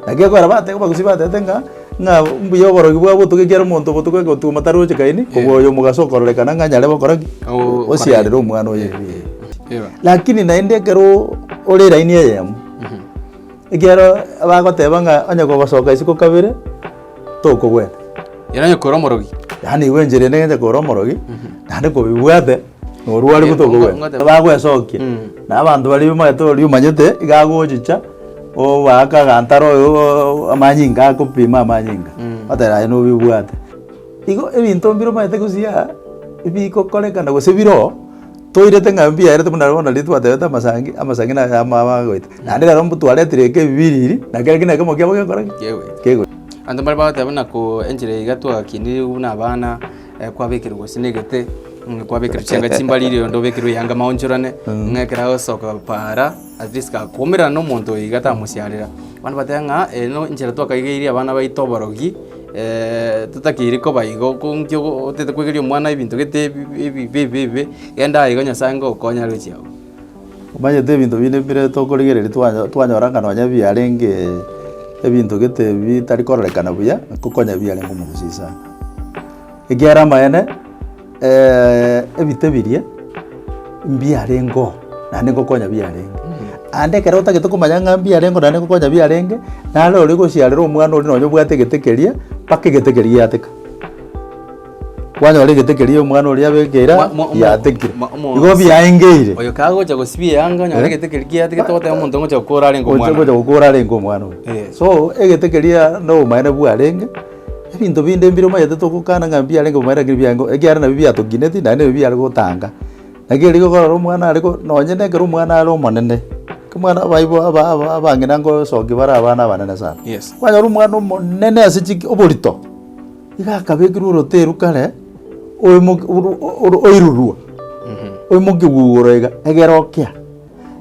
Naki ekogera bateba abagusii batebete ng'a ng'a mbuya oborogi bwa obotuko ekiagera omonto obotuko egotuma taroche kaini kobua oyo omogaso okororekana ng'a nyare gokora ki? Oo- Osiarere omwana oye. Eba. Lakini naende ekero ore line eyemo ekiagera bagoteba ng'a onye gogosoka isiko kabere. tokogwena. Yaani onye kore omorogi. Yaani igo enchera ende ng'enche kore omorogi, naende kobibwate, norware buna tokogwena. Bagwesokia, na abanto baria omanyete oria omanyete, iga agochicha, obaake agantara oyooo amanyinga akopima amanyinga, oteba aye nobibwate. Igo ebinto mbire omanyete gose aa, ebigokorekana gose bire oo. Toirete ng'a mbiaerete buna bono riria twatebete amasangi, amasangi naye amo aba agoeta. Naende rero mbotuaretire eke ebibiriri, na kera ekina ekemo kiabo gekora ki? Kegoeta. Kegoeta. Abanto mbare bagoteba buna ko enchera iga twakinirigwe buna abana, eh, kwabekerwa gose negete, mm, kwabekerwa chianga chimbari rirorio onde obekerwe eyanga maonchorane, ng'a ekero agosoka paara. At least ka koumerana na omonto oyo iga tamosiarera. Abande bateba ng'a eye no enchera twakaigeirie abana baito oborogi, eh, totakeiri koba igo, ko nki ogo otete koigeria omwana ebinto gete ebi ebi ebibe ebibe, genda igo Nyasaye ngokonya aro chiao. Omanyete ebinto binde bire tokorigereria twanya twanyora ng'a nonye biarengee ebinto gete bitari kororekana buya, ngokonya ebiarenge omoguso ase aya. Ekiagera amaene. Ebite biria mbiarengeo naende ngokonya biarenge, naende ekero otagete komanya ng'a mbiarengeo naende ngokonya biarenge, naro oria ogosiarera omwana oria nonye obwate egete keria mpaka egete keria giateka. Kwanyora egete keria omwana oria abekeire aa Mo- mo- giatekire. mo- mo- Igo biaengeire. Oyo kagocha gosibia eyanga onyore Eh? egete keria giatigete goteba omonto ngocha gokora arenge Oche omwana. gocha gokora arenge omwana oyo. Eh. So egete keria nobomaene bwarenge. Ebinto binde mbire omanyete togokana ng'a mbiarenge komoira ekero biarenge komoira ekiagera nabio biatokineti naende nabio biare gotanga. Naki riria okorora omwana are ko nonye na ekero omwana are omonene, omwana abaibo aba aba abang'ina ngosokia bare abana abanene sana. Yes. Kwanyora omwana omonene ase chiki oborito, iga akabekirwe oroteru kare, oimoki oru oru oirurwa, oimoki gugoro iga egere okea.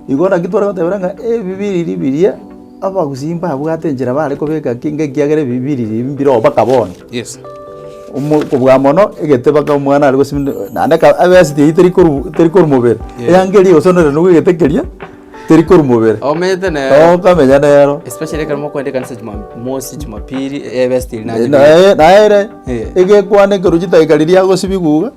Igo naki tware gotebera ng'a ebi biriri biria abagusii mbabwate enchera bare kobeka ki, ng'ekiagera ebi biriri mbire oo mpaka bono. Yes. Omo okobua mono egete mpaka omwana are gosimeka naende aka abesiti eywo teri koru teri korwa mobere, Yeah. eanga eria egosonera nabo egete keria teri korwa mobere. Omanyete ne Oo okamenya nero. especially ekero mokoenda ekanisa jumamosi, jumapili, eh ebesiti eri naye. Naye naye ere Eh. egekwana ekerochi taiga riria agosibigwa iga.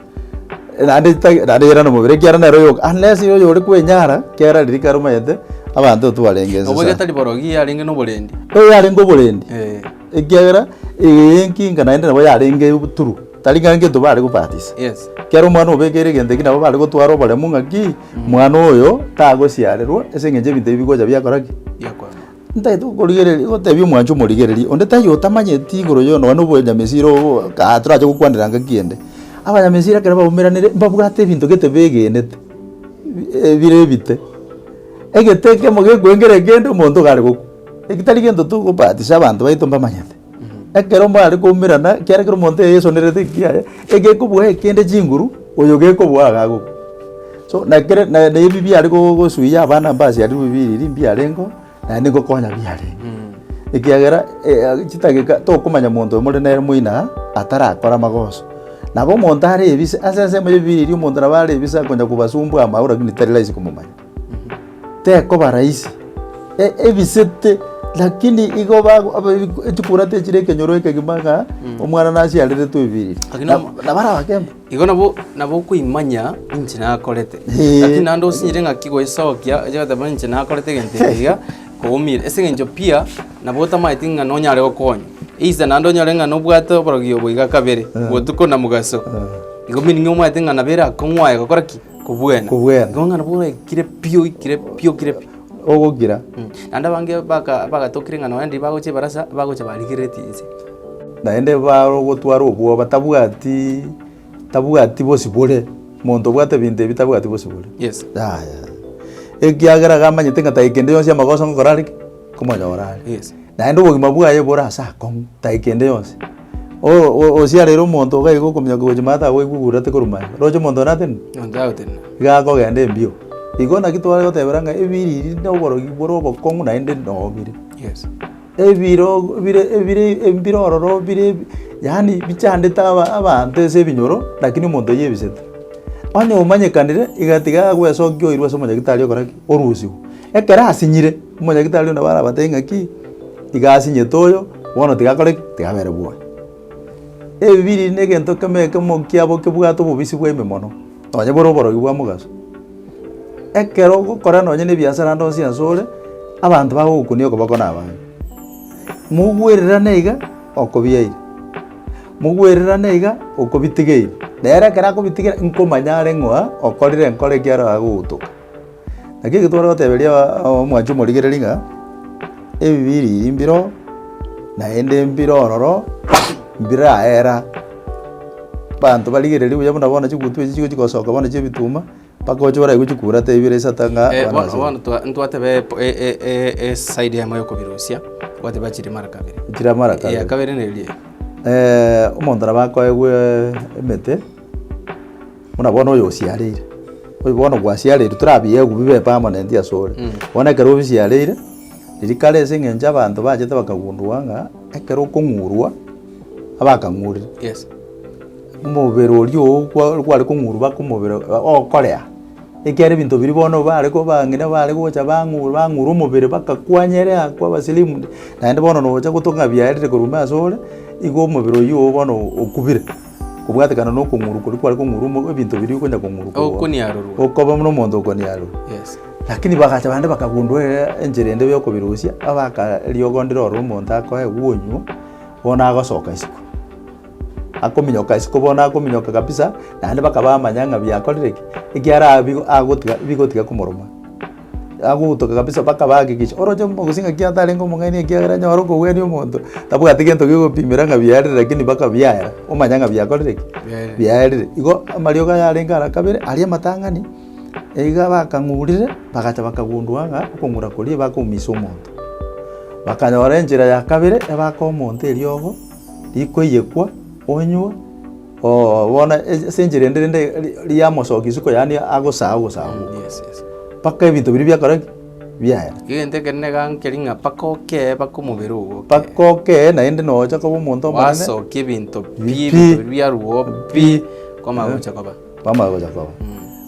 naende ta naende yera nomobere ekiagera nere oyo ah nesi oyo ore kwenyara ekiagera riria kare omanyete abanto otwarenge ense Obo sa getari borogi yarenge noborendi. Oyo yarenge oborendi Eh. ekiagera eye enkinga naende nabo yarenge oboturu tari ng'a ngento bare gobatisa Yes. ekero omwana obekeire egento ekio nabo bare gotwara oboremu ng'aki mwana oyo tagosiarerwa ase eng'encho ebinto ebi bigocha biakora ki Biakora. Ntagete gokorigereria, gotebia omwancho omorigereria onde taiyo otamanyeti igoro yo nonye obonyamesiri obo kaa torache gokwanera ngaki ende. Abanyamesiri ekero baumeranire mbabwate ebinto gete begenete, ebire ebite. Egete ekemo gekoengera ekende omonto iga are gokwa. Eki tari gento togobatisha abanto baito mbamanyete. Ekero mare koumerana, ekiagera ekero omonto eyesonerete ekiya yaye, egekobua ekende chinguru, oyo gekobua iga agokwa. So na ekere na na ebi biare go- gosuia abana mbase aria bwebiriri mbiarengeo, naende ngokonya biarenge. Ekiagera eh chidageka tokomanya monto oyo more nere moino aa, atarakore amagoso. Nabo omonto are ebise, ase ensemo ya ebiriri omonto nabo are ebise akonya kobasumbua amaaura lakini tari rahisi komomanya. tekoba rahisi, e- ebisete lakini igo bago- abe- echikura techire ekenyoro ekegima ng'a Mm. omwana nachiareretwe ebiriri Lakini Na- omo- nabare abakemba igo nabo nabo okoimanya inche nakorete Eh. lakini naende osinyire ng'aki goisokia oche goteba inche nakorete egento eke iga koumire ase eng'encho pia nabo otamaeti ng'a nonyare gokonya either naende onyore ng'a nobwate oborogio boiga kabere botuko na mogaso igo meaning omaete ng'a nabo erakong'u aye gokora ki Kobwena. Kobwena. Nonya nabwo oikire pi, oikire pi, oikire pi. Ogogira. Naende abange baka- bagatokire ng'a nonya ndiri bagocha ebarasa, bagocha barigereretie inse. Naende barogotwara obwoba, tabwati tabwati bosibore. Monto obwate ebinto ebi tabwati bosibore. Yes. Yaya. Ekiagera iga amanyete ng'a tari kende yonsi amagoso ngokora are ki? Komonyora are. Yes. Naende obogima bwaye bore ase akong'u, tari kende yonsi. osiarire omonto iga iga okominyoka gochia ime ata agoigwe obururate korwa maega. Roche omonto one atenena? Onde agotenena. Iga akogenda embio. Igo naki tware gotebera ng'a ebiriri na oborogi bore obokong'u naende noo bire. Yes. Ebiro bire ebire embiro ororo bire yaani bichandete aba abanto ase ebinyoro lakini omonto oyebisete. Onye omanyekanire iga tiga agoesokia oirwe ase omonyagitari okora ki? Orusigwe. Ekero asinyire. Omonyagitari onde barabatebie ng'a ki, iga asinyete oyo, bono tigakore ki? Tigabere bwoba. Ebibiri negento kemo ekemo nkia bokebwate obobisi bwaime mono, nonye bore oborogi bwa mogaso. Ekero ogokora nonye ne ebiasara ande onsi onsi ore, abanto bagogokunia okoboko na abana. Mogwererane iga okobiaire, mogwererane iga okobitigeire. Nere ekero akobitigera, nkomanya are ng'a okorire enkoro ekiaro agogotoka. Naki ekio tware goteberia omwanche omorigereri ng'a ebibe ebiya mbiro, naende mbire ororo, mbiraera. Abanto barigereria buya buna bono chigutu echi chigochia gosoka bono chia ebituma, mpaka oche oraigwe nchikura taiyo bire isata ng'a Eh, bono bono twa- ntwateba epo- e- e- e- e- eside eyemo ya okobirusia, twateba chire mara kabere. Chire amara kabere. Eya kabere neri eye. omonto nabo akoegwe emete. Buna bono oyosiareire, oyo bono bwasiareirwe, tore abiegu bibepe amo nentwe asore. Bono ekero obisiareire, riria kare ase eng'encho abanto bachete bakagundua ng'a ekero okong'urwa, abakang'urire, Yes. omobere oria oo kwa- kware kong'urwa baka omobere okorea. Ekiagera ebinto biria bono bare ko bang'ina bare gocha bang'u bang'urwa omobere bakakwanyere aa kwaba slimmed, naende bono nocha gotoka ng'a biarire korwa ime asore, igo omobere oyio oo bono okubire. Kobwatekana nokong'urwa koria kware kong'urwa ebinto biria okonya kong'urwa korwa Okoniarorwa. okoba buna omonto okoniarorwa. Yes. Lakini bagacha bande bakagundua ere enchera ende yokobirusia, abakariogonderia ore omonto akoe gwonywa, bono agosoka isiko. Akominyoka isiko bono akominyoka kabisa, naende bakaba bamanya ng'a biakorire ki, ekiara bigo agotiga bigotiga komoruma. Agogotoka kabisa mpaka bahakikisha. Oroche omogusii ng'aki atarenge omong'aini ekiagera onye okogwenia omonto, tabwati gento kegopimera ng'a biarire lakini mpaka biaya, omanye ng'a biakorire ki? Biaerire. Igo amariogo aya arenge ara kabere, aria amatang'ani, iga bakang'urire, bagacha bakagundua ng'a okong'ura koria bakoumisa omonto. Bakanyora enchera ya kabere, ebaka omonto eriogo, riko eyekwa, onywe. Oo, bono ase ase enchera ende rende ri- riamosokia isiko yaani agosaa ogosaa Mm, gokwe. yes, yes. Mpaka ebinto biria biakora ki? Biaera. Egento ekero negankeri ng'a mpaka okee mpaka omobere ogo okee. Mpaka okee naende nocha koba omonto omonene. Gwasokia ebinto pi, Pi. ebinto biria biarwo pi, Pi. kwamanya gocha koba. Kwamanya gocha koba. Mm.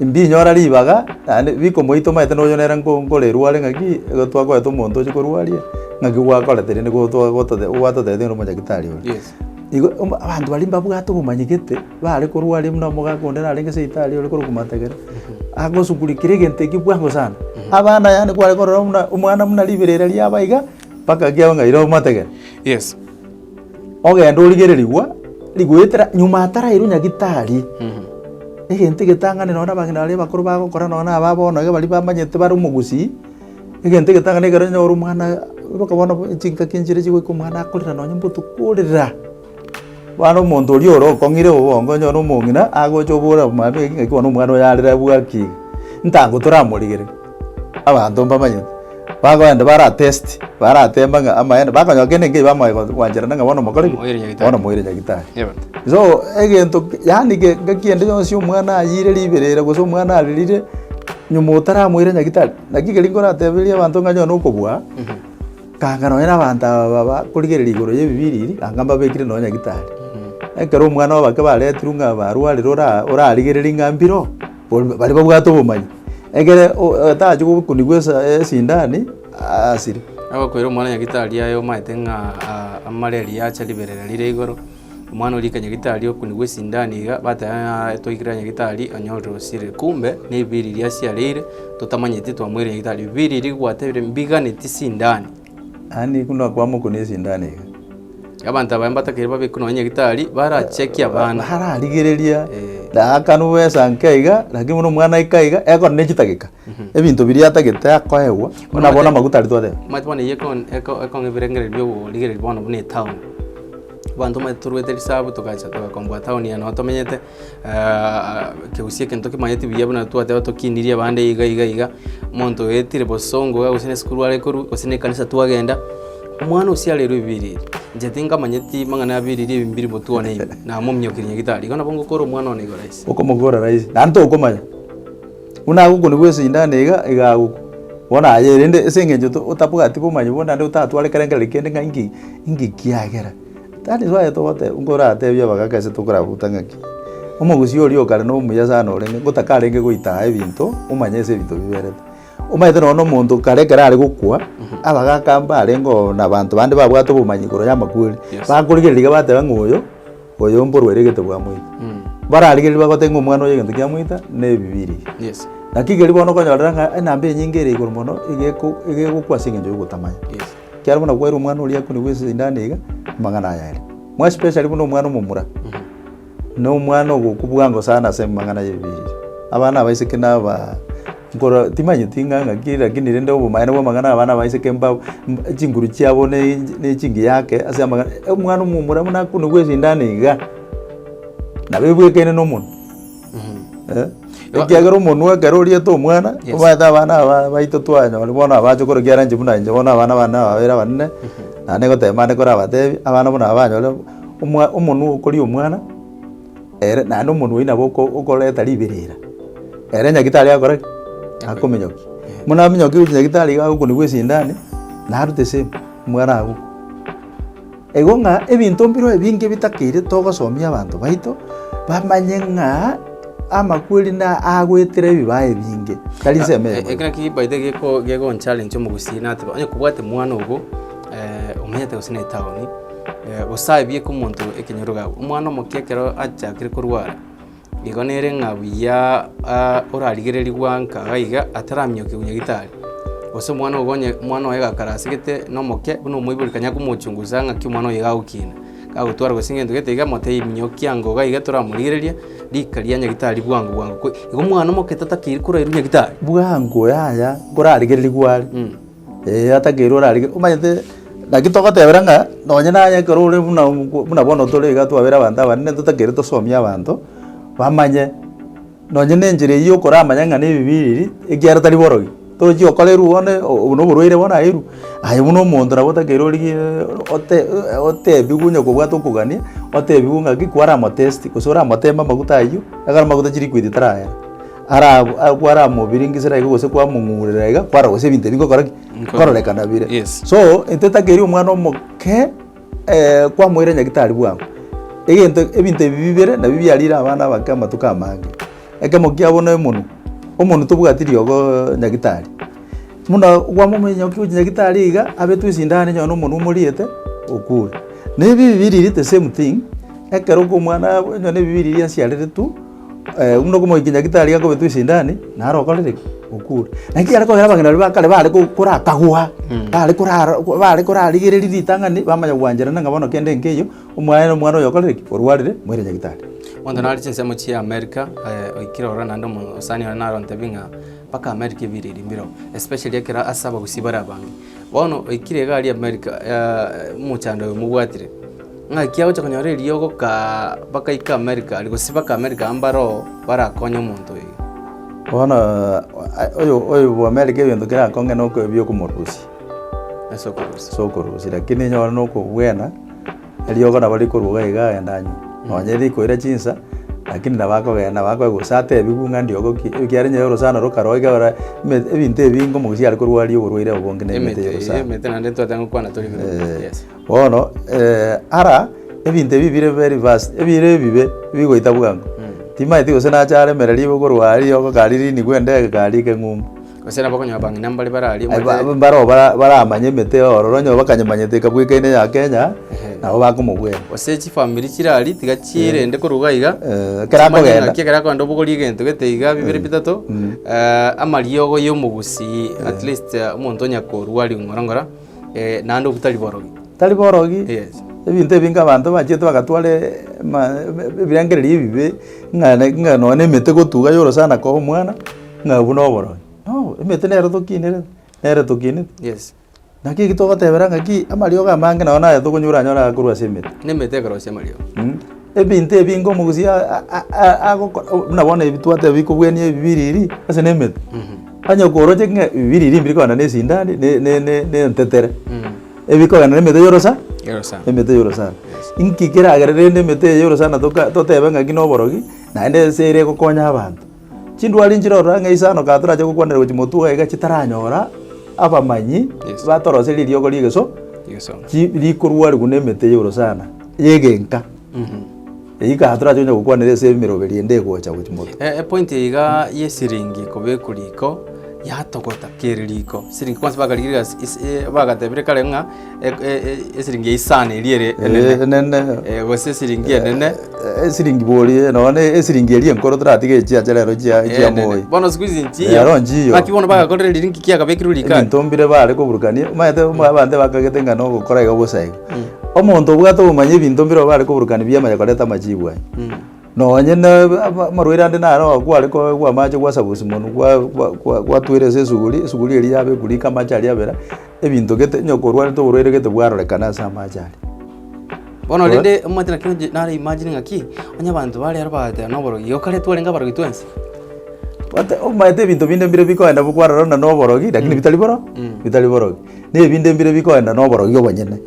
Imbinyora ribaga, naende bikomoita omanyete noyo nere nkore rware ng'aki igo twakorete omonto oche korwaria, ng'aki gwakorete rende nigo twa gotote gwatotebetie nere omonyagetari oria. Yes. Igo omba abanto baria mbabwate obomanyegete, bare korwaria buna omogaka onde narenge seitari ore korokwa matagera, agosuguri kera egento ekio bwango sana. Abana yaani kware korora buna omwana buna riberera riabo aiga, mpaka kiabe ng'a ira omotegete. Yes. Ogende origererigwe rigoetera nyuma atarairwe nyagitari. Egento egetang'ani nonye na abageni baria bakoro bagokora nonye na aba bono iga baria bamanyete bare omogusii, egento egetang'ani ekero onye ore omwana oka bono chingaki nchiria chigoika omwana akorera nonye mbotuko orira. Bono omonto oria ore okong'ire obongo onye ore omong'ina agocha oborere mambia ki ng'aki bono omwana oyo arire abwaki iga, ntango toramorigereri. Abanto mbamanyete, bagoenda baratesti, barateema ng'a amaene, bakonyora kende nkeiyo bamoe go- gwancherana ng'a bono mokore ki? Momoire nyagitari. Bono momoire nyagitari. Yebo. So, egento ki- yaani ge- ngaki ende yonsi omwana ayiire ribero ere gose omwana arerire, nyuma otaramoire nyagitari, naki keri nkoratebereria abanto ng'a onye one okobua, kanga nonye na abanto aba ba- bakorigereria igoro y'ebibiiri ebi, anga mbabekire nonye nyagitari. Ekero omwana oboke baretirwe ng'a barwarire ora- orarigererie ng'a mbire oo. Bono baria babwate obomanyi, ekere o- otache gokunigwa esa esindani, aasire. Agokoira omwana nyagitari aye omanyete ng'a aa amare riria aacha riberera rire igoro, omwana oria rika nyagitari okunigwa esindani iga, bateba ng'aa twaikire aa nyagitari onyorire osire, kumbe na ebibiiri riria asiareire, totamanyeti twamoire nyagitari. Ebibiiri ebi rigwatebire mbiganeti sindani. Naende nigo nakwama okwo nesindano iga. Abanto abaya mbatakeire babe ekero nonye nyagitari barachekie abana. Bararigereria daaka nobwe esanka iga, lakini buna omwana aika iga, ekona ne chidageka, ebinto biria atagete akoegwa, buna bono amaguta aria twateba. Omanyete bono eyio ekon- eko- ekong'a ebirengereri bia oborigereri bono buna etown. Abanto omanyete toruete risabu togacha togakomboa town eye noo tomenyete. Kegusii egento kimanyeti buya buna twateba tokinirie abande iga iga iga, omonto oetire bosongo iga gose na esukuru are korwa gose na ekanisa twagenda, omwana osiarerwe ebiiri, inche tinkamanyeti mang'ana ya biiri ebi mbiri botwone ibi, namominyokirie nyagitari, igo nabo ngokora omwana one igo rahisi. Okomokora rahisi, naende tokomanya, buna agokonigwa esindano iga iga agokwa, bono aye rende ase eng'encho to otabwati bomanyi bono naende otatware kera kende ng'a inki inki kiagera. Tari twaye togoteba, nkoratebie abagaaka ase tokorabuta ng'aki, omogusii oria okare nomuya sana orenge, ngotakarenge goita aa ebinto, omanye ase ebinto biberete. Omanyete nonya omonto kare ekero are gokwa, abagaaka mbarenge oo na abanto bande babwate obomanyi igoro y'amakweri, bakorigereria iga bateba ng'a oyo, oyo mborwa ere egete bwamoita. Bararigereria bagoteba ng'a omwana oyo egento kiamoita, ne ebibiria. Naki keri bono okonyorera ng'a enamba enyinge ere igoro mono, egeko egegokwa ase eng'encho y'ogotamanya. Ekiagera buna gwaire omwana oria akonigwa esindano iga, amang'ana aya aria. More especially buna omwana omomura, nomwana ogokubua ango sana ase amang'ana y'ebibiria. Abana abaiseke naba nkoro timanyeti ng'a ng'aki lakini rende obomanene bwa amang'ana abana abaiseke mba chinguru chiabo na echingiya yake ase amang'a omwana omomura buna akonigwa esindano iga, nabo ebwekaine nomonwe. Ekiagera omonwa ekero oriete omwana, Yes. omanyete abana aba baito twanyore bono abache korokia eranchi buna inche bono abana bane aba babere abanene, naende negoteba mande korabatebi, abana buna aba banyore omwa omonwa okoria omwana, ere naende omonwa oyio nabo oko okoreta riberera. Ere nyagitari agakora ki? Akominyokia. Buna aminyokia gochia nyagitari iga agokunigwa esindani, narute same, omwana agokwa. Eigo ng'a ebinto mbireo ebinge bitakeire togosomia abanto baito bamanye ng'a amakweri nagoetera ebibaao ebinge, tari nsemo eyemo. Ekero ki baita geko- gegoncharencha omogusii nate onye kobwate mwana obo eh, omenyete gose na etaoni, eh, gose aye bieka omonto ekenyoro gakwa. Omwana omoke ekero achakire korwara. Nigo nere ng'a buya orarigereria gwanka iga iga ataramiokia konya gitari, gose omwana ogo onye omwana oye gakarasegete nomoke buna omoibori kanya komochungusa ng'aki omwana oyo iga agokina, gagotwara gose egento gete iga motebi minyokia ango iga iga toramorigereria rika ria nyagitari bwango bwango. Igo omwana omoke tatakeire korwa ere nyagitari. Bwango yaya nkorarigereria gware. Ee, atakeirwe ore arige. Omanyete naki togotebera ng'a nonye naye ekero ore buna omoku buna bono tore iga twabera abanto abanene totakeire tosomie abanto, bamanye nonye na enchera eywo okoramanya ng'a na ebibe ebiiri, ekiagera tari borogi. Tochi gokora erwo bono obo na oborwaire bono aye erwo, aye buna omonto nabo otakeire origie ote otebiwe onye kobwate okogania, otebiwe ng'aki kwaramotesti gose oramoteme amaguta aywo, ekero amaguta chiliquid tarayera. Arabu agwo aramobiringisera iga gose kwamong'urera iga kwara gose ebinto ebio bigokora ki? Bikororekana bire. Yes. So intwe etakeri omwana omoke eh, kwamoira nyagitari bwango. Egento ebinto ebi bibere nabio biarire abana abake amatuko amange. Ekemo kiabo na emonwa, omonwa tobwati riogo nyagitari. Buna gwamomanya nyago kigochi nyagitari iga abetwe esindano enyone omonwa omoriete okure. Na ebi bibiriri the same thing, ekero kwa omwana abo onye ne ebibiriri asiareretwe, Buna okomoikia nyagitari gakobetwa esindani, naro okorire ki? Okure. Naki ekero kwabera abageni baria ba kare bare ko- korakagwa, bare korara bare korarigereria ritang'ani, bamanya gwancherana ng'a bono kende nkeiyo, omwaya na omwana oyo okorire ki? Orwarire, moire nyagitari. Monto nare chinsemo chia America, oikire ororo naende omosani one naro ontebie ng'a mpaka America ebiriri mbireo, especially ekero ase abagusii bare abange. Bono oikire iga aria America, omochando oyo mobwatire. Ng'aki agocha konyora eriogo bakaika Amerika aria gose baka Amerika amo bare oo barakonye omonto oyo. Bono oyobo Amerika egento kerakonge nebi'okomorusia ase okorusia lakini onye ore nokobwena eriogo nabo rikorwa iga iga agende anywe. Nonye rikoira chinsa lakini nabo akogenda gose atebiwe ng'a riogo ki ekiagera onye orosana rokaro iga ora ebinto ebinge omogusi aria korwaria oborwaire obonge na emete ya orosana. Bono, ara ebinto ebi bire very fast, ebire ebibe bigoita bwango. Timaeti gose nache aremere ribo korwa aa riogo kari rinigwe endege kari eke ng'umbu. Gose nabo okonyora bang'ina mbare bare aria Aye ba- omanyete- baroo bara- baramanye emete eye ororo, onye bakanyemanyete ekabweka ene ya Kenya, nabo bakomobwera. gose chifamiri chire aria tiga chirende korwa iga iga, Eh, ekero chimanye akogenda. ng'aki ekero akogenda obogorie egento gete iga bibere bitato, amariogo ya omogusii at least omonto onye korua ring'ora ng'ora. Eh, naende obutari borogi. Tari borogi Yes. ebinto ebinge abanto bachete bagatwara ema- ebe- ebirengererio ebibe ng'a ne- ng'a nonye na emete gotuga ya orosana koa omwana ng'a obwo na oborogi no emete nero tokinire nere tokinete Yes. naki eki togotebera ng'aki amariogo amange nonye na aya tokonyora anyore aya korwa ase emete Nemete ekero ase amariogo. Mm. ebinto ebinge omogusi a- a- a- agokora buna bono ebi twateba bikobuania ebibiriri ase na emete Mhm. Onye kworoche ng'a bibiri eria mbire kogenda nesindani, ne- ne- ne- nentetere, ebi kogenda nemete yorosa, Yorosa. emete yorosana. Yes. Inki keragere rende emete eye yorosana toka- totebe ng'aki na oborogi, naende ense ere egokonya abanto? Chindwari nchire ororo ang'e isano ka torache gokwanera gochia motwe iga chitaranyora abamanyi Yes. batoroserie eriogo riegeso, Yeso. chi- rikorwariwa na emete yorosana, yegenka. Eyio kare torache onye gokwanera ase emeroberi ende egocha gochi moto. E- epoint eye iga yesiringi kobekwa riko yatogota kere riko siringi kwansa bakarigire gasi is- e- bagatebire kare ng'a e- e- e- esiringi ya isani eria ere Eh, enene enene. Eh, gose esiringi enene Eh, esiringi borie nonya na esiringi eria enkoro toratige echiacha rero chia chia enene. moi. bono siku hizi nchiyo Rero nchiyo. ng'aki bono bagakorera riringi kiagabekirwe rikari Ebinto mbire bare koburukania omanyete omwe abanto bakagete ng'a nogokora iga bosa iga. Omonto obwate ogomanya ebinto mbire obare koburukana ebiama ya koreta amachibu aye. Nonye na amarwaire ande naro oo kware koegwa amache gwasaba osimonu gwa gwa gwa gwatwera ase esuguri, esuguri eria yaba ekurika amache aria abera, ebinto gete onye korwarete oborwaire gete bwarorekana ase amache aria. Bono rende omanyete naki oji nare imagine ng'aki, onye abanto bare aro bagoteeba na oborogi, igo kare twarenge abarogi twensi? Ote omanyete ebinto binde mbire bikoenda bikwarora buna na oborogi lakini bitari boro bitari borogi. Nebinde mbire bikoenda noborogia obonyene.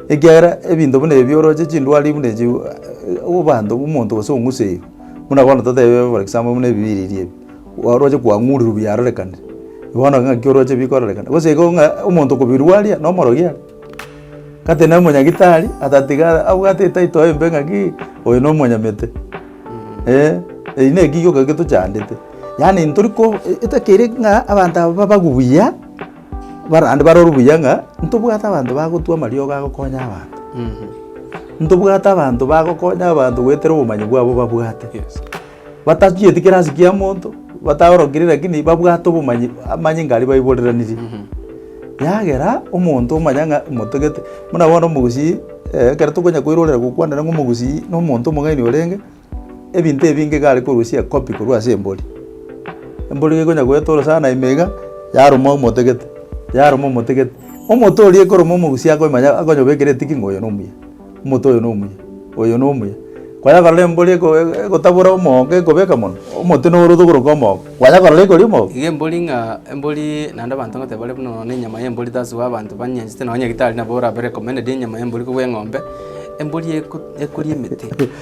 Ekiagera ebinto buna ebi oroche chindwari buna echi abanto omonto gose ong'useirwe buna bono totebe for example buna ebibiriri ebi oroche kwang'urirwe biarorekanire bono ng'aki oroche bikororekana gose igo ng'a omonto okobirwaria nomorogia are kate na omonyagitari atatiga abwate etaito embe ng'aki oyo nomonyamete eh eki naki gioka getochandete yaani ntori ko etagere ng'a abanto aba babagwe buya. Barande barore buya ng'a ntobwate abanto bagotwa amariogo agokonya abanto. Ntobwate abanto bagokonya abanto goetera obomanyi bwabo babwate. Batachieti kera ase kia monto, bataorokiri rakini babwate obomanyi amanyinga aria baiboreranirie. Yagera omonto omanya ng'a motagete, buna bono omogusii ekero tokonya koirorera gokwanera ng'a omogusii na omonto omong'aini orenge. Ebinto ebi nigo egare korusia ekopi korwa ase embori. Embori nigo ekonya goetorosa sana ime iga, yaruma omote gete, yaruma omote gete. Omote oria ekoruma omogusi akomanya akonyobekera etiki ng'a oyo na omuya, omote oyo na omuya, oyo na omuya. Kwanya korora embori eko egotabora omogo ekobeka mono, omote noro oto koroka omogo, kwanya korora ekoria omogo. Iga embori ng'a embori naende abanto ngote bare buna nonya enyama ya embori tasugu abanto banyanyasete nonya nyagetari nabo orabare recommended enyama ya embori korwa eng'ombe, embori eko ekoria emete.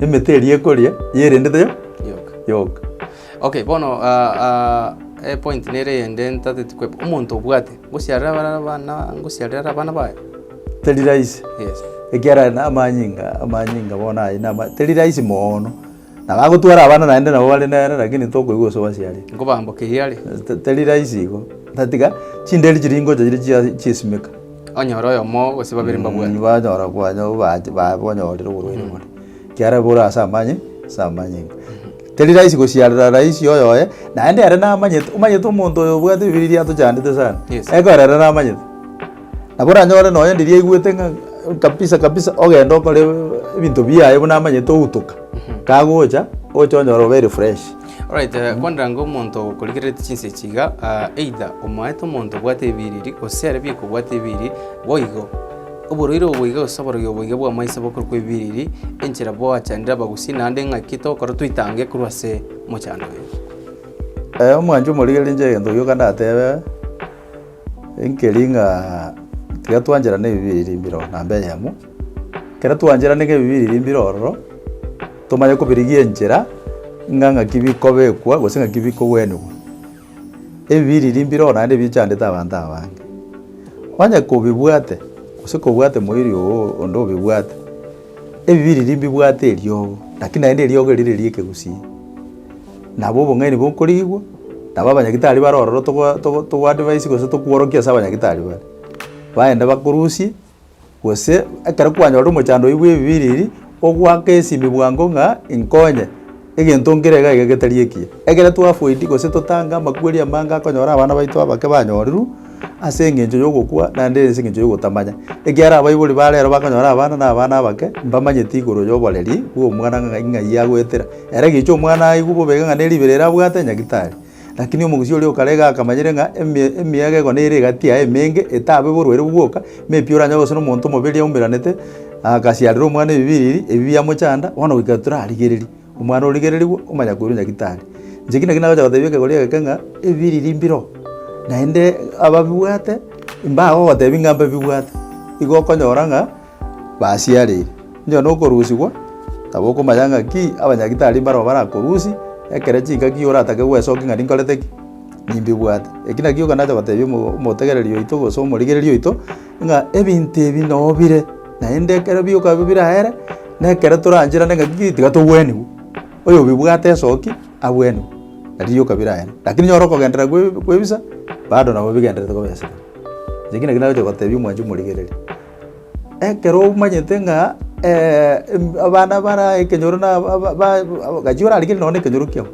Emete eria ekoria yerendete yo Yoka. yoka. Okay, bono ah, ah, eh, point nere eyende ntateti kweba. Omonto obwate ngosiarera abana abana ngosiarera abana baye. Teri rahisi. Yes. Ekiara na amanyinga amanyinga bono aye nama teri rahisi moono. Na bagotwara abana naende nabo bare nere lakini tokoigwa ase obasiare. Nkobambokeria are. Te- teri rahisi igo. Tatiga chinderi chiria ingocha chiria chia- chiasimeka. Onye ore oyomo gose babere mbabwate. banyora kwanya obaati baye bonyorire oborwaire bore. Ekiagera bore ase amanye, ase amanye inga. Teri rahisi gosiarera rahisi oyoye, naende ere namanyete, omanyete omonto oyo obwate ebibiria atochandete sana, Yes. ekero ere namanyete. Nabo oranyore nonye ndiri aigwete ng'a kabisa kabisa ogende okore ebinto biaye buna amanyete outoka, kagocha, oche onyore obeire fresh. Alright, eh, kwanderanga omonto okorigerereti chinsa echi iga, ah, either omoete omonto obwate ebiriri, gose are bieka obwate ebiriri, boigo. Oborwaire obo boiga gose oborogi obo boiga bw'amaiso bokorokwa ebiriri, enchera bwachandire abagusii naende ng'aki tokore toitange korwa ase omochando oyo. Eh, omwancho omorigereria inche egento gioka ndatebe, enkeri ng'a tiga twancherana ebibiriri mbireo namba eyemo. Ekero twancherane ng'ebibe ebi bire mbire ororo, tomanye kobirigia enchera ng'a ng'aki bikobekwa gose ng'aki bikogwenigwa. Ebibe ebi bire mbire ororo naende nabio bichandete abanto aba abange. Onye kobibwate gose kobwate moiri oo onde obibwate, ebibe ebi mbibwate eriogo, lakini naende eriogo eri riria ekegusii. Nabo obong'aini bokorigwa, nabo abanyagitari bare ororo togo togo togo advise gose tokworokia ase abanyagitari bare, baende bakorusie. Gose ekero kwanyora omochando oyi bw'ebibiriri, ogoaka esimi bwango ng'a inkonye, egento nkere iga iga getari ekiya. Ekero twafoidi gose totange amakweri amange akonyora abana baito abake banyorirwe ase engencho y'ogokwa naende ase engencho y'ogotamanya. Ekiagera abaibori ba rero bakonyora abana na abana abake mbamanyeti igoro y'oboreri bw'omwana ng'a ng'ai agoetera. Ere gicha omwana aigwe bobe iga ng'a neribere ere abwate nyagitari. Rakini omogusii oria okarega akamanyire ng'a emi- emiyaga ego nere egati yaye emenge, etabe oborwaire obwo bwoka, buna pi oranyore gosira omonto omobere yaumeranete, agasiarera omwana ebibiriri ebi biamochanda, bono goika torarigereria, omwana origererigwe, omanya koirwa nyagitari. Inche ki naki nagocha gotebia ekegori egeke ng'a ebibiriri mbiroo, naende ababibwate, mbagogotebi ng'a mbabibwate, igo okonyora ng'a. basiareire. Onye nokorusigwa, tabokomanya ng'aki abanyagitari mbarabwo barakorusie, ekere chingaki oratake gwesokia ng'a ninkorete ki? Nimbibwate. Eki nakio ekero nacha gotebia omo- omotegereri oito gose omorigereria oito, ng'a ebinto ebi noo bire, naende ekero bioka bi- biraere, na ekero torancherane ng'aki ki, tiga togweniwu. Oyobibwate esoki, agweniwu, nario rioka biraere. Lakini nyora okogenderera kwe- kwebisa, bado nabo bigendererete koba esege. Eki nakio nagocha gotebia omwanchi omorigereria. Ekero omanyete ng'a abana bare ekenyoro na gachia orarigerie nonye na ekenyoro kiao,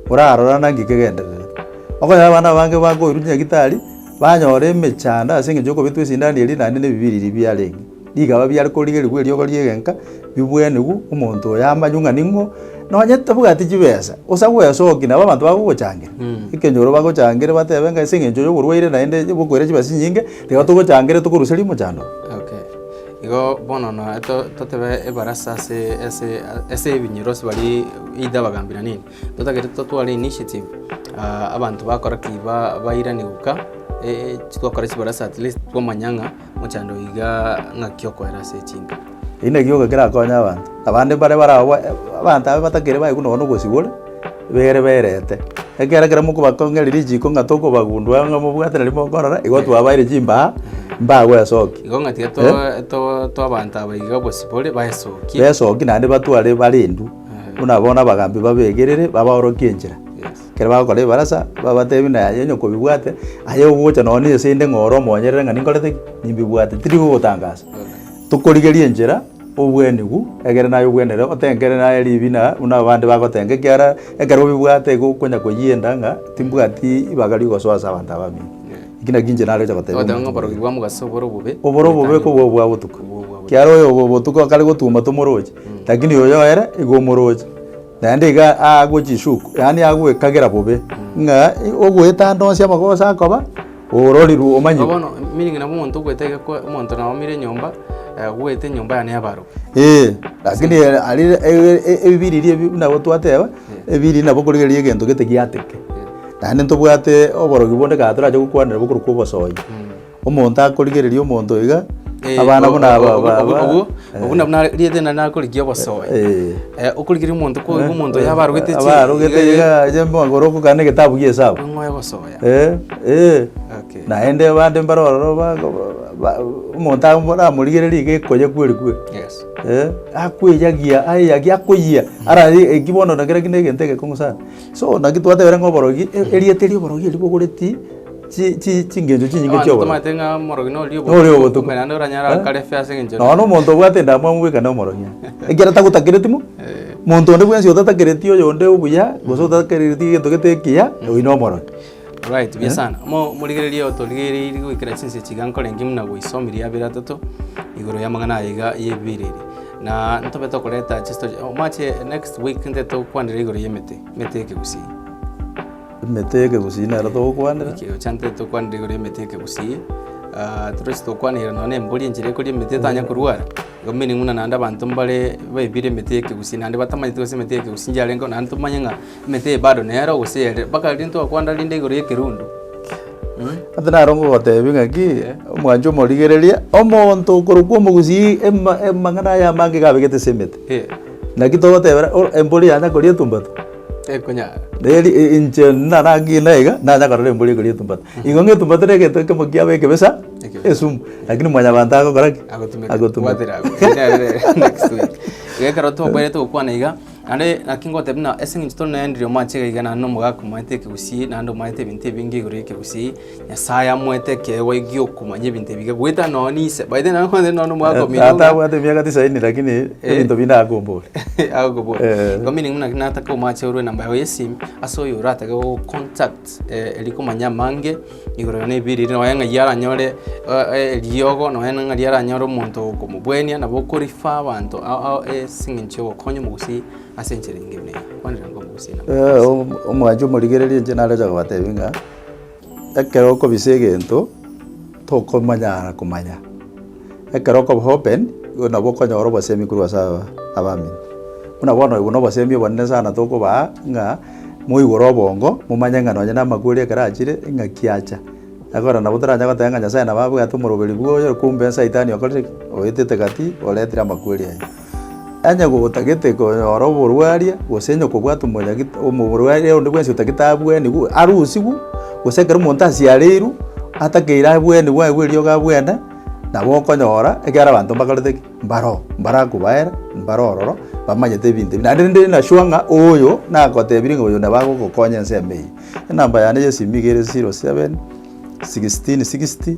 orarora naki kegendererete. Okonye abana abange bakoirwa nyagitari, banyora emechando ase eng'encho yokobetwa esindani eria naende na ebibiri eria biarenge. Rikaba biare korigerigwa eriogo riegenka, ribwenerwe omonto oyo amanywe ng'a ning'o. Nonye tabwati chibesa, gose agwesokia nabo abanto bagogochangera, ekenyoro bagochangere batebe ng'a ase eng'encho yoborwaire naende bokoira chibesa chinyinge. Igo togochangeria tokorusia rimochando. Okay. Igo bono na to- totebe ebarasa ase ase ase ebinyerosi baria either abagambi na nini, totagete totware initiative ah, abanto bakora ki ba- bairane goka eh, twakora chibarasa at least twamanya ng'a mochando iga ng'aki okoera ase chinka. Eki na gioka kerakonye abanto. Abande mbare bare agwo abanto abe batakeri baegwa nonya na obosigore, bere berete. Ekiagera ekero mokobakong'eria richiko ng'a tokobagundua ng'a mobwate nari mokorora, igo twabaeire chimbaa mbaa gwesokia. Igo ng'a tiga toa- toa- toa abanto aba iga obosibore baesokie. Besoki naende batware barendu, buna bono abagambi babegerere babaorokie enchera. Yes. Ekero bagokora ebarasa, babatebi na yaye onye kobibwate, aye ogocha nonya na esende ng'a ore omonyerere ng'a ninkorete ki? Nimbibwate. Tiri gogotangasa. Tokorigeria enchera obwenigu, egere naye obwenere otengere naye ribi na buna abande bagotenga, ekiara ekero obibwate igo okonya koyienda ng'a timbwati ribaga ri'ogosoa ase abanto abamino. Eki nakio inche naroche gotebia Ogoteba ng'a omonto oborogi bwa mogaso oboro obobe. Oboro obobe goetania kobua obwa botuko. Obwo obwa botuko. Kiaro oyo obo botuko akare gotuma tomoroche, lakini oyo ere igo omoroche. Naende iga agochishuku, yaani agwekagera bobe, ng'a ogoetanda onsi amagoso akoba ororirwe omanyigwe. Bono meaning nabo omonto ogoeta iga kwa omonto na oumire enyomba, agoete enyomba yane y'abarwani. Eeh, lakini ere aria e- e- e- ebibiri eria ebi buna gotwateba, ebibiri eria nabo korigereria egento gete giateke. Naende ntobwate oborogi bonde kare torache gokwanera bokorokwa obosoyi. Omonto akorigereria omonto iga, Eh, abana o- buna o- aba- o- aba- obwo- aba- obwo- eh. obwo nabwo nari- rietena nakorigia obosoe Eh. Eh, okorigeria omonto ko iga omonto oyo aba arogete chi- abarogete iga- iga aje magoro okogana egetabu gia esabu ong'oe gosoya Eh, eh. Okay. naende abande mbare ororo ba- ba- ba- omonto amo- ramorigereria iga ekoya kweri kweri Yes. Eh, akweyagia ayeyagia akoyia ara eki bono na kera kinde egento egekong'u sana So naki twatebire ng'a oborogi, e- erieta eria oborogi ribogoreti chi- chi- chingencho chinyinge Abanto chi'oborogi. tomanyete ng'a omorogi nori Nori obotuko, obotuko. kumbe naende oranyare Eh? akare efe ase eng'encho Nonya na omonto obwate endamwamu bweka na omorogi. Ekiagera tagotakereti mo. Monto onde bwensi otatakereti oyonde obuya, gose otatakereti egento gete ekiya, oyio nomorogi. Alright, mbuya sana. Mo- Morigererie otorigereiri goikera chinse chiga nkore engima na goiso omirie abere atato igoro y'amang'ana aya iga y'ebibereri. Na ntobe tokoreta chisto chi- omache next week nde tokwanere igoro y'emete, emete ekegusii. Emete ekegusii nero togokwanera. Ekero chante tokwanire igoro y'emete ekegusii, ah, tore ase tokwanera nonya na embori enchera ekoria emete etanya korwara, igo meaning buna naende abanto mbare baebire emete y'ekegusii naende batamanyeti gose emete y'ekegusii nchiarenge korwa naende tomanye ng'a. Emete eye bado nero, gose ere? Mpaka riria ntwakwanda rinde igoro y'ekerundu. Ase naro ngogoteebie ng'aki, omwanche omorigereria, omonto okorokwa omogusii ema- amang'ana aye amange iga abegete ase emete. Eh, Naki togotebera o- embori yanya koria etumbatu, tekonyara. neri i- inche nara ng'ina iga, nanya korora embori ekoria etumbatu. Igo ng'a etumbatu negento ekemo kiabo ekebisa, Ekebisa. esumu, lakini mwanyabanto agokora ki? Agotumeka. Agotumeka. Bwatera abwo. Next week. Iga ekero twakwenerete gokwana iga, Naende naki ngotebie ng'a ase engencho tore nendiri omwanchete iga iga naende nomogaka omanyete ekegusii, naende omanyete ebinto ebinge igoro y'ekegusii, Nyasae amoete ekeegwa gi'okomanya ebinto ebiya goeta nonye n'ise. By the way, naende kwanza nonye nomogaka ominto buna. Tata abwate emiaka tisaini lakini ebinto binde akombore. Agokobora. Eh. Igo meaning buna nataka omwache orwe enamba yago y'esimi ase oyo oratake gogocontact rikomanya amange. Igoro ere nebiri ere nonya ng'ai aranyore eh, eh, eriogo nonya na ng'ari aranyore omonto okomobwenia nabo okorifa abanto ao- ao ase eng'encho ya ogokonya omogusii ase enchera enge buna eye kwanera ng'a omogusii nabo Eh, om- omwanchi omorigereria inche naroche kobatebia ng'a ekero okobisa egento tokomanyara komanya Ekero okoba open, igo nabo okonyora obosemi korwa ase abamino. Buna bono obo nobosemi obonene sana tokobaa, ng'a moigure obongo, momanye ng'a nonye namakweri ekero achire, ing'aki acha. Ekero nabo toranya goteba ng'a Nyasae nabo abwate omoroberi bwoye, kumbe Saitani okorire ki? Oetete gati, oretire amakweri aye. Onye gotagete konyora oborwaria, gose onye kobwate omonyagito omorwaria onde bwensi otagete abwenigwe, arusigwe, gose ekero omonto asiareirwe, atakeire abwenigwe aye bwe riogo abwene, nabo okonyora ekiagera abanto mbakorete ki? Mbaroo, mbarakobaera, mbare ororo, bamanyete ebinto ebi. Naende rende na sure ng'a oyo nagotebirie ng'a oyo nabo agogokonya ensemo eye. Enamba yane ya esimi niga ere zero seven, sixteen sixty.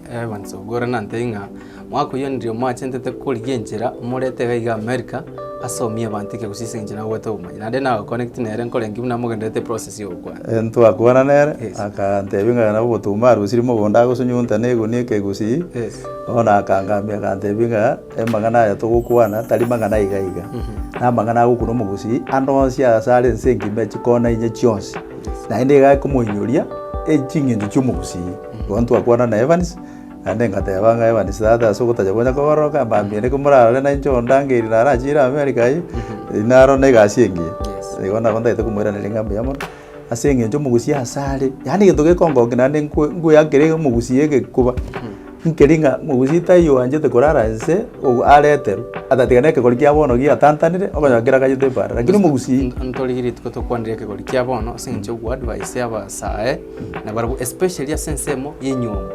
Evans Ogwora nantebie ng'a mwaka oyio ndirio mwachentete korigia enchera morete iga iga America ase omia ebanto eke gose ase engencho nagobwate obomanyi. Naende na connect nere nkorengi buna mogendererete eprocess ya ogokwana. Eh, ntwakwana nere, Yes. akantebia ng'a nabo ogotumba arosiri mogondo agosunyunta na egunia eke egusii, Yes. bono akangamia akantebia ng'a Amang'ana aya togokwana tari mang'ana iga iga, namang'ana agokuna omogusii ande onsi ase are ense engima echi kona inye chionsi. Naende iga akomoinyoria eching'encho chi'omogusii. Bono ntwakwana na Evans, naende engateba ng'a Evans tata ase ogotacha konya kogororoka mbambia ere komorarore nainche ondangerie narachiire America aye, inarore na egasi engiya. Igo nabo ntagete komoiraneria ng'a mbuya mono. ase eng'encho omogusi ase are, yaani egento gekongonkia naende nkwe nkwea nkere omogusi egekuba, nkeri ng'a mogusi taiyo oanchete korara inse, ogo areterwe, atatiga na ekegori kia bono giatantanire, okonyora keragachete ebaara, rakini omogusi Nto- ntorigie rituko tokwanire ekegori kia bono ase eng'encho ya goadvise abasae, nabarabwo especially ase ensemo ya enyiomi.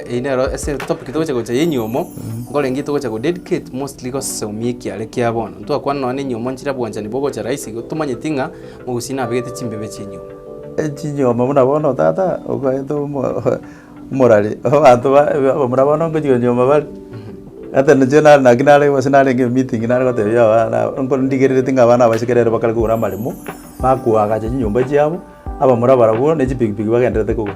eyio nero ase etopic togocha gocha ya enyiomo, nkorenge togocha godedicate mostly gosesomia ekiare kia bono, ntwakwana nonye na enyiomo nchire obwanchani bogocha rahisi igo tomanyeti ng'a. Gose nabegete chimbebe chinyuoma. Chinyuoma buna bono tata okoete omorari obaanto baye abamura bono ngochia konyuoma bare. Ata inche nare naki nare gose narenge emeeting nare gotebia abana aba ndigerereti ng'a abana abacheke nere bakare kogora amaremo bakoagacha chinyomba chiabo abamura barabwo ne chipikipiki bagendererete kogora.